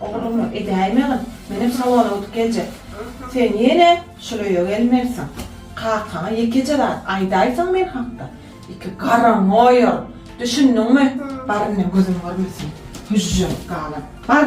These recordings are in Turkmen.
Oglumy edäýmegin, menem sawala ötüp geljek. Sen ýene şol öýe gelmelisiň. Kakaňa ýekeje zat aýdaýsaň men hakda, iki garryňy oýaryn. Düşündiňmi? Bar indi, gözüm görmesin, hüžžeňip galan. Bar!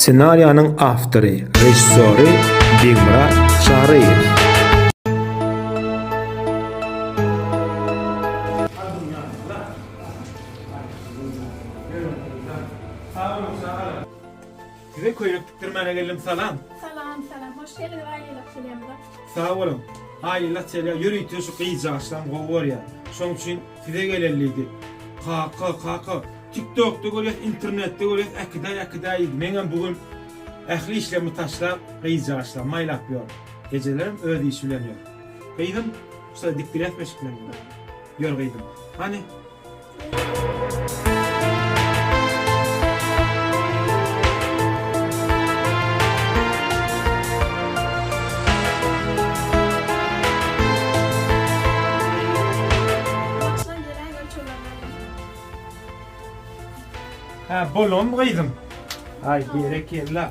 Ssenariýanyň awtory, režissýory Begmyrat Çaryýew. Size köýnek tikdirmäne geldim salam. Salam salam hoş geldiňiz aýylyk çelýamyza. Sag boluň. Aýylyk çelýa ýörite şu gyzjagaşlam gowy görýär. Şoň üçin size geleli diýdik. Kaka kaka tiktokda görýäs internetde görýäs äkidaý äkidaý diýdi. Meňem bu gün ähli işlerimi taşlap gyzjagaşlam maýlap ýörün. Ejelerem öz işi bilen ýör. Gyzym şusa dikdirýäsmi eşik bilen? Ýör gyzym. Hany. Hä, bolam gyzym. Aý, berekella.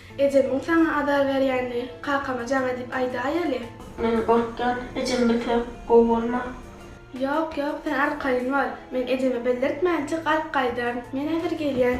Ejemiň saňa azar berýänini kakama jaň edip aýdaýeli. Men gorkýan, ejem bilse gowy bolmaz. Ýok, ýok, sen arkaýyn bol. Men ejeme bildirtmän çyk alyp gaýdaryn. Men häzir gelýän.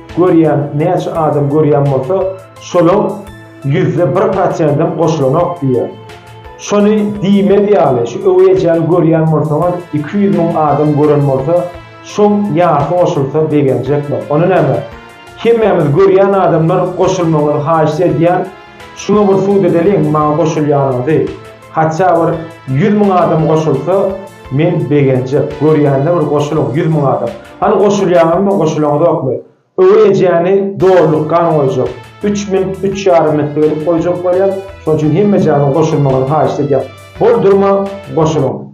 Görýän näçe adam görýän bolsa şolaň ýüzde bir prosendem goşulanok diýýär. Şony diýmez ýaly şu öweý ejäni görýän bolsaňyz iki ýüz müň adam gören bolsa şoň ýarsy goşulsa begenjekler. Ony näme? Hemmämiz görýän adamlar goşulmagyňyzy haýyşt edýän şuňa bir sud edeliň maňa goşulýanyňyzy. Hatça bir ýüz müň adam goşulsa men begenjek, görýänler bir goşulyň ýüz müň adam. Hany goşulýaňyzmy, goşulaňyzokmy? Öweý ejäni dolulykgan goýjak. Üç minut, üç ýarym minutlyk edip goýjak bolýar. Şonuň üçin hemme ejäniň goşulmagyny haýyşt edýän. Bol durma, goşulyň.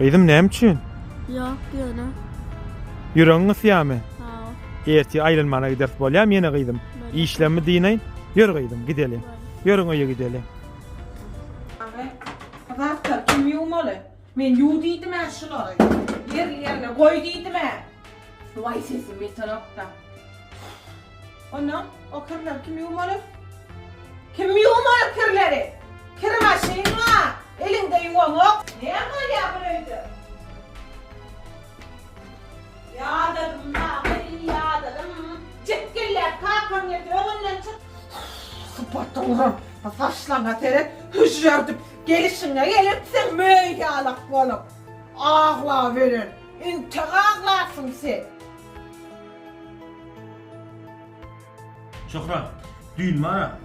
Gyzym näme üçin? Ýok ýöne. Ýüregiň gysýamy? Hawa. Ertir aýlanmana gideris bolýamy ýene gyzym? Işlemi dynaýyn. Ýör gyzym gideliň. Ýörüň öýe gideliň. Agam, bu zatlar kim ýuwmaly? Men ýuw diýdim-ä şulary. Ýerli-ýerine goý diýdim-ä. Waý sesim ýetenokda. Onda o kirleri kim ýuwmaly? Kim ýuwmaly kirleri? Kir maşyn bar. Eliňde ýuwaňok. Näme bolýar bir öýde? Ýadadym dagy, ýadadym. Jikgillek kakaň ýet, öňünden çyk. Sypaty guran, bu saçlaryňa seret, hüžžerdip. Gelşiňe gelepsiň möý ýalak bolup. Aglaweren, intek aglarsyň sen. Şöhrat, düýn bar-a,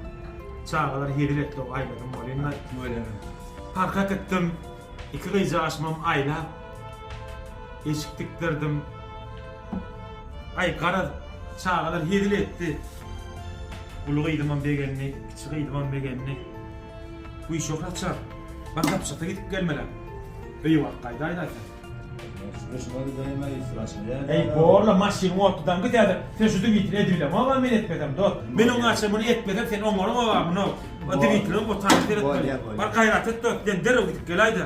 çagalar hezil etdi-ow, aýladym bolýa-da. Tüweleme. Parkat etdim, iki gyzjagaşymam aýlap, eşik tikdirdim. Aý, garaz, çagalar hezil etdi. Uly gyzymam begendi, kiçi gyzymam begendi. Guşak açar. Gazapçysyz gidip gelmelem. Öýe baryp gaýdaýdaýsaň. Durmuşyma gidäýmä ýesir açylýar. Eý, bor-la, maşynyň otludan git häzir. Sen şu Dmitri edibilemog-a men etmesem, dost. Men oňa açan muny etmesem sen oňaramog-a muny. O Dmitriň otagynda seretmeli. Bar gaýrat et, dost, sen derrew gidip geläý-de.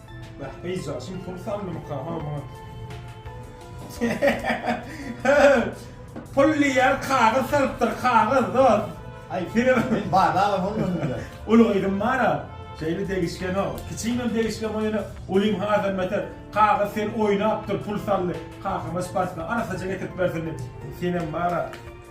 Bäh, gyzjagaz şum pul sandymyka, ha, muňa. Pul diýýär, kagyz salypdyr, kagyz, dost. Aý, film. Men bala-a bolmazmyka? Uly gyzym bar-a, şeýle degişgenok. Kiçiginem degişgen bol, ýöne ulym hazam beter. Kagyz seni oýnapdyr, pul saldy. Kakama şparsky arasaja getirip bersin diýip. Senem bar-a.